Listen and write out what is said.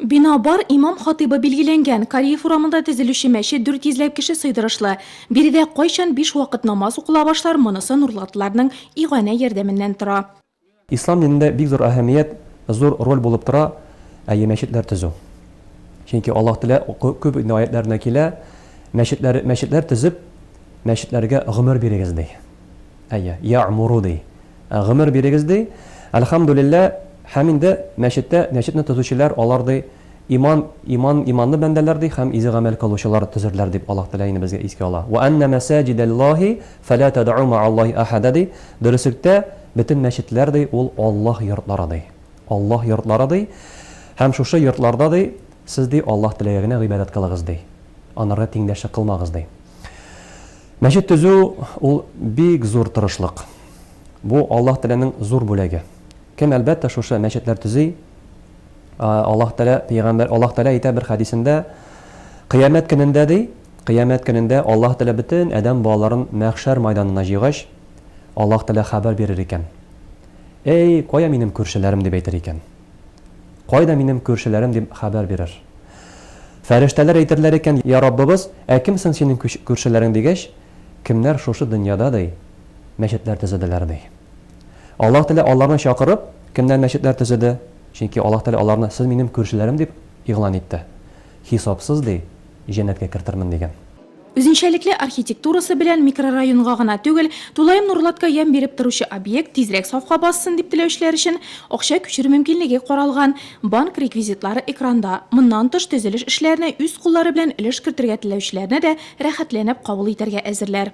Бина бар, имам-хатыйбы билгеләнгән. Кариев урамында төзелүче мәчет дүрт йөзләп кеше сыйдырышлы. Биредә кайчан биш вакыт намаз укыла башлар, монысы нурлатлыларның иганә ярдәменнән тора. Ислам динендә бик зур әһәмият, зур роль булып тора, әйе, мәчетләр төзү. Чөнки Аллаһ Тәгалә күп инде аятьләрендә килә, мәчетләр, мәчетләр төзеп, мәчетләргә гомер бирегез, ди. Әйе, я'муру, ди. Гомер бирегез ди. Әлхәмдүлиллә, һәм инде мәчеттә мәчетне төзүчеләр алар ди, иман иман иманлы бәндәләр ди һәм изге гамәл кылучылар төзерләр дип Аллаһ Тәгалә инде безгә искә ала. Вә әннә мәсәҗидәллаһи фәлә тәдәу мәәллаһи әхәдә ди. Дөреслектә, бөтен мәчетләр ди, ул Аллаһ йортлары ди. Аллаһ йортлары ди. Һәм шушы йортларда ди, сез ди Аллаһ Теләгә генә гыйбадәт кылыгыз ди. Анарга тиңдәшлек кылмагыз ди. Мәчет төзү, ул бик зур тырышлык. Бу, Аллаһ Тәгаләнең зур бүләге. Кем, әлбәттә, шушы мәчетләр төзи, Аллаһ Тәгалә, пәйгамбәр, Аллаһ Тәгалә әйтә бер хәдисендә, Кыямәт көнендә, ди, Кыямәт көнендә Аллаһ Тәгалә бөтен адәм балаларын мәхшәр майданына җыйгач, Аллаһ Тәгалә хәбәр бирер икән, Әй, кая минем күршеләрем, дип әйтер икән. Кайда минем күршеләрем дип хәбәр бирер. Фәрештәләр әйтерләр икән, Йа Раббыбыз, ә кем соң синең күршеләрең дигәч, кемнәр шушы дөньяда, ди, мәчетләр төзеделәр, ди. Аллаһ Тәгалә аларны чакырып, кемнәр мәчетләр төзеде, чөнки Аллаһ Тәгалә аларны сез минем күршеләрем дип игълан итте. Хисапсыз, ди, җәннәткә кертермен, диген. Үзенчәлекле архитектурасы белән микрорайонга гына түгел, тулаем Нурлатка ямь биреп торучы объект тизрәк сафка бассын дип теләүчеләр өчен акча күчерү мөмкинлеге каралган. Банк реквизитлары экранда. Моннан тыш, төзелеш эшләренә үз куллары белән өлеш кертергә теләүчеләрне дә рәхәтләнеп кабул итәргә әзерләр.